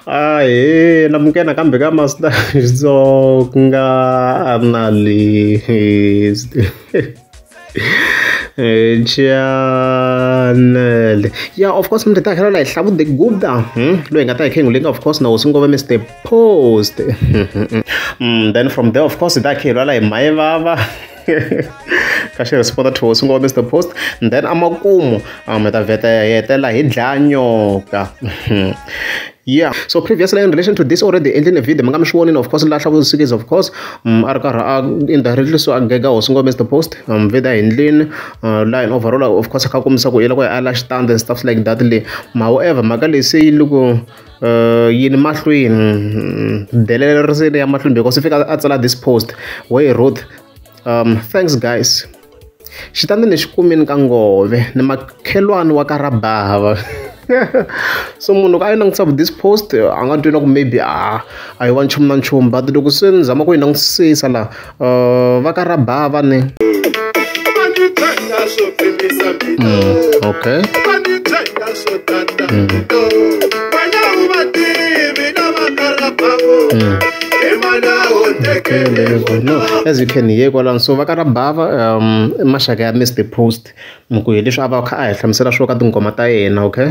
Ahe na muke nakambe ka master Xitsonga a na list chanel ya of course mi ta tlhela la hi hlavude guda hmm? loyi nga ta hi khengulenga of course na hosi ngove mr post hmm, then from there of course hi ta khelwa la hi maye vava ka xi responda two swi ngo mr post and then amakumu um hi ta vheta hi hetela hi dlaya nyoka yeah so previously in relation to this already endlini video mi nga mi swi vonini of course lahla vusikisi of course um, a ri karhi a indirectly so a gega hosi ngo mr post um, vida hi ndlini uh, la in overall of course a kha kombisa ku i loko a la xitandi and stuff like that le ma however mhaka leyi se yi loko yini mahlweni delele ri se ri ya mahlweni because se fika a tsala this post where he wrote um thanks guys xitandi ni xi kumini ka ngove ni makhelwani wa ka rabava so munhu loko a yi langutisa vu this post a nga twi na ku maybe a a yi wa nchumu na nchumu but loko se ni zama ku yi langutisisa laha uh, va ka rabava ni mm, okay as you can hear kwalano so va ka rabava um maxaka ya mr post mi ku hi leswi a va a kha a hi hlamusela swo ka tinghoma ta yena okay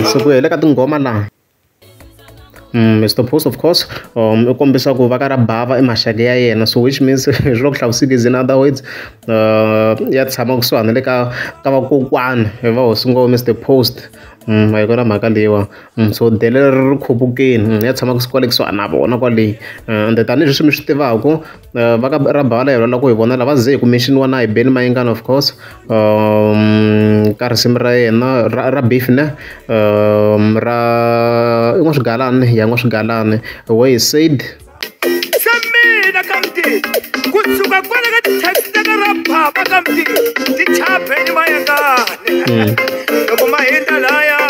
so ku hela ka tinghoma laha Mister Boss of course um u kombisa ku va ka ra bava i maxaka ya yena so which means swi le ku hlavisekeni is in other words uh ya tshama kusuhana le ka ka vakokwana va hosi ngo Mister Post a hi kona mhaka leyiwa so delele ri ri khupukeni ya tshama kwale kusuhana na vona kwale ende tanihileswi mi swi tivaku. Uh, va ka rabhala hi lava ku hi vonela va ze hi kume xiniwa na hi beni mayingana of course um, ka risimu ra yena ra, ra beef ne um, ra i n'wa swigalani ya n'wa swigalani way he said xa mina ka mdini ku suka kwale ka tithekita ka ra baba ka mdini ti chapeni mayengane loko ma hindza laya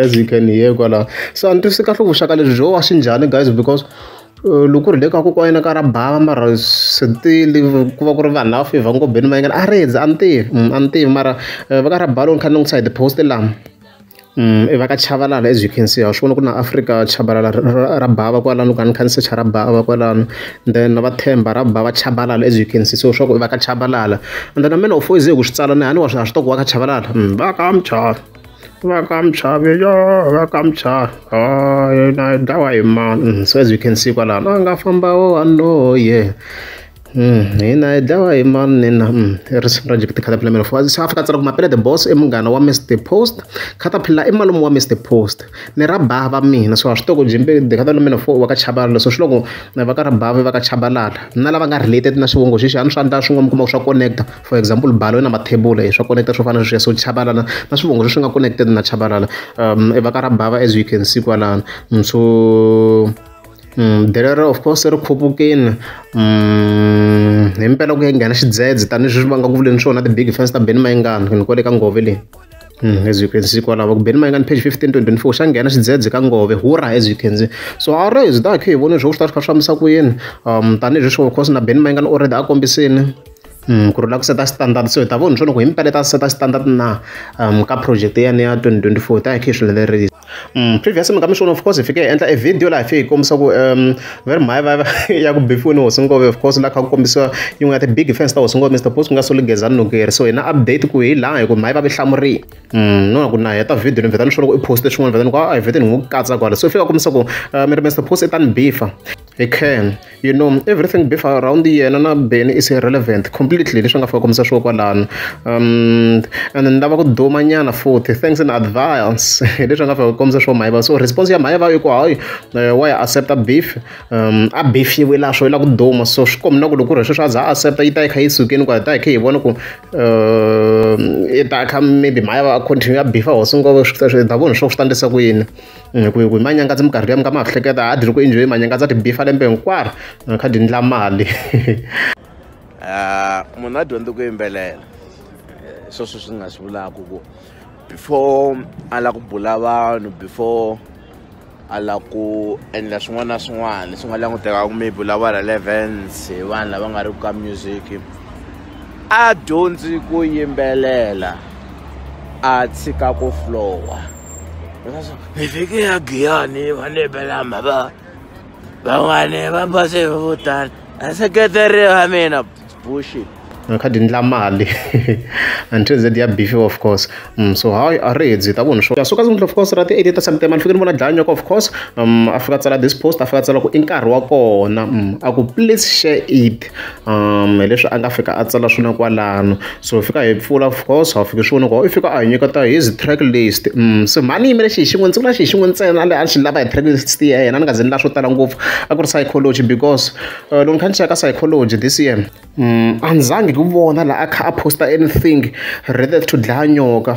as you can hear kwala se a ni twisisi kahle ku vuxaka lebyi byo wa swi njhani guys because loko ku ri le ka kokwana yena ka ra bava mara swi tiyile ku va ku ri vanhu lava fevhaku ngopfu beni mayengani a rindza a ni tivi a ni tivi mara va ka ra bava loko ni kha ni langutisa hi ti-post lama i va ka chavalala as you can see ha swi vona ku ri na Afrika chabalala ra bava kwalano ni kha ni kha ni secha ra bava kwalano then na va Themba ra bava chabalala as you can see so swa ku i va ka chabalala and then na mina u foyizeke ku swi tsala ni a ni wa swi tiva ku wa ka chabalala va ka muchava. vakamchavi yo vakamchavi oh, yena i dlawa hi mani mm, so as you can see kwalano a nga famba wo waloye hina hi dlawa hi mani nina i risimu ra jekete caterpillar melo for south africa tsala ku mapele the boss i munghana wa mr post caterpillar i malume wa mr post ni ra bava mina so a swi toko jimbe the caterpillar melo for wa ka chabalala so swi loko va ka ra bava va ka chabalala na lava nga related na swivongo xexi a ni swa ndla swin'wana mi kuma ku swa connecta for example balo na mathebula swa koneketa swo fana na sweswo chabalala na swivongo leswi nga connected na chabalala um evaka ra bava as you can see kwalano so um delero of course ri khupukini um hi mpela ku ya nghena xidzedze tanihileswi va nga ku vuleni swona ti-big fans ta beni mayingana ni kwale ka ngove leyi Mm, as you can see kwalava ku beni mayingani page 15 2024 xa nghena xidzedze ka ngove hura as you can see so a raise dakhe hi vone swo swi ta swi kha swi fambisa ku yini um tanihileswi of course na beni mayingani already a kombisini ku ri u lava ku seta standard so hi ta vona leswaku hi mpela ta seta standard na ka project yane ya 2024 ta hi khe hi swi landzelerisa previous mi ka mi swona of course hi fike hi endla e video laha hi fike hi kombisa ku va ri mhaya va ya ku bifiweni hosi ngove of course laha kha ku kombisiwa yin'we ya ti-big fans ta hosi ngove mr post ku nga soli gezani nokeri so hi na update ku hi laha hi ku mhaya va vi hlamurile no ku na heta video ni vheta ni swona ku i poste swin'wana vheta ni ku a hi vhete ni n'wi katsa kwala so i fika kombisa ku mi ri mr post i tani bifa Hi Khang you know everything beef around yena na Benny is irrelevant completely leswi nga fika kombisa swilo kwalano um and ni lava ku duma nyana futhi thanks in advance hi leswi nga fika kombisa swilo mayiva so response ya mayiva i ku hayi eh, wa ya accepta beef um a beef yi wela swo yi lava ku duma so swi kombi na ku loko ku ri sweswi a za a accepta yi ta yi kha yi sukeni ku ta yi kha yi vona ku eh, yi ta kha maybe mayiva a continue ya beef a hosi ngopfu swi ta vona swo swi ta ndlisa ku yini Mm, ku ku manyangadzi minkarhi leyi mi nga ma hleketa a diri ku enjoy manyangadzi a tibifa lembe hinkwaro a kha dindla mali ah, munhu a dyondzi ku yimbelela eh, sweswo swi nga swi vulaka ku before a lava ku bula vanhu before a lava ku endla swin'wana na swin'wana leswi nga languteka ku maybe u lava relevance hi vanhu lava nga ri ku ka music a dyondzi ku yimbelela a tshika ku flowa hi fike ya giyani va lebelama va van'wani va base vo tala aseketeri va mina bushit ngikhadi ndla mali until z ya beef of course mm, so hayi a ri hedzi ta vona swo ya suka zimdla of course ra ti 8 ta september ndifike ni vona dlaya nyoko of course um a fika tsala this post a fika tsala ku i nkarhi wa kona mm, a ku please share it hi leswi a nga fika a tsala swona kwalano so hi fika hi pfula of course a wu fiki swi vona ku i fika a hi nyiketa hi zi track list se mhani ni yimele xi hi xin'we ndzi vula xi hi xin'we ntsena a ni xi lava hi track list ya yena ni nga ze ni lava swo tala ngopfu a ku ri psychology because loko ni kha ni cheka psychology this year a ni zangi hi ku vona laha a kha a post-a anything related to dlaya nyoka.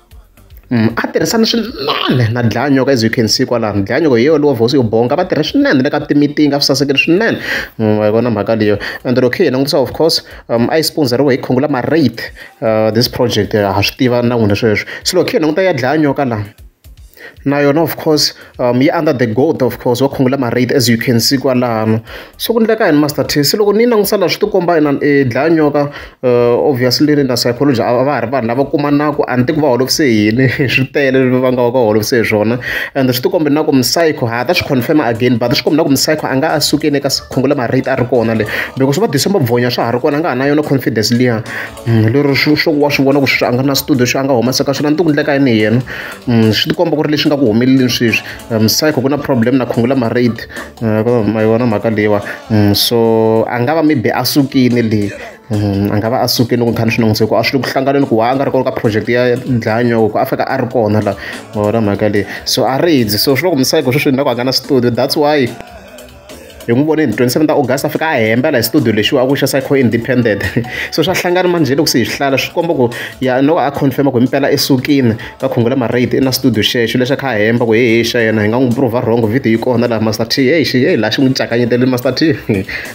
a tirhisana swinene na dlanyoko as you can see kwalano dlanyoko hi yona hosi yo bonga va tirha swinene ni le ka timitiningi a swi sasekile swinene wa yi vona mhaka leyo and loko hi langutisa of course um a yi sponsoriwe hi khungula marate this project ha swi tiva na n'wina sweswo se loko hi languta ya dlaya nyoka laha. na yona of course um yi under the goat of course va khungula ma-rate as you can see kwalano so ku endleka yini master t se loko ni yi langutisa laha swi ti komba inani i dlaya nyoka um obviously ni na psychology a va ha ri vanhu lava kumanaka a ni tivi va holovise yini swi tele va nga va ka holovise hi swona and swi ti kombe na ku mi-psycho ha ta swi confirma again but swi kombe na ku mi-psycho a nga a sukile eka khungula ma-rate a ri kona le because va december bvonya swa ha ri kona a nga ha na yona confidence liya lero swo swo wa swi vona ku sweswi a nga na studio xo a nga humesa ka swona ni ti ku ndleka yini hi yena swi tikomba ku ri leswi nga ku humeleleni sweswi msayikho ku na problem na khungula marade ma yona mhaka leyiwa so a nga va maybe a sukile le a nga va a sukile loko nkhani swi nangise ku a swi le ku hlanganeni ku wa a nga ri kona ka project ya dlanyoko ku a fika a ri kona la wona mhaka leyi so a ri dzi so swi loko msayikho sweswi ni la ku a nga na studio that's why hi n'wi voneni 27 ta august a fika a hembela hi studio lexiwa a ku xa psycho independent so swa hlangana manjhe loko se hi swihlala swi komba ku ya no a confirma ku impela esukini ka khungula marate i na studio xexo lexi a kha a hemba ku hehe xa yena hi nga n'wi prova wrong video yi kona laha master t hey xi hey laha xi n'wi cakanyetele master t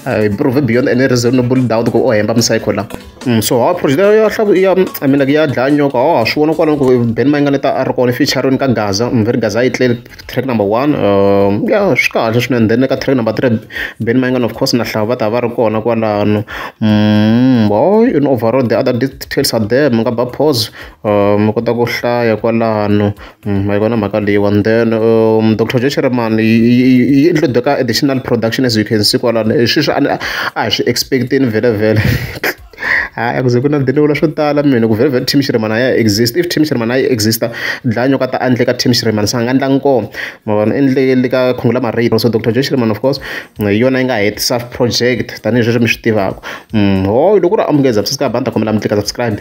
hi prove beyond any reasonable doubt ku o hemba mipsycho la mm, so hawa project ya hlaku ya i mean ya dlaya nyoka hawa swi vona kwalano ku ben mayingane ta a ri kona featuring ka gaza mveri mm, gaza a yi tleli track number one um ya swi kahle swinene then ka track number three Ben Mayengani of course na Hlava va ta va ri kona kwalano boy in overall the other details are there mi nga ba pause mi kota ku hlaya kwalano ma yi vona mhaka leyiwani then um Doctor Joe Shirimani yi include ka additional production as you can see kwalano sweswi a ni a hi swi expect-ini vhele vhele. Hayi a ku ze ku na swo tala mina ku vhela team Shirimani a ya ha exit-i. If team Shirimani a yi exit-a dlaya nyoka ta endla ka team Shirimani se a nga endla nkomo. Ma vona u endle le ka Khungula Marine also doctor Joe Shirimani of course hi yona yi nga hetisa project tanihileswi mi swi tivaka. Hooy loko ku ri a mi nge subscribe a ni ta kombela mi tlika subscribe.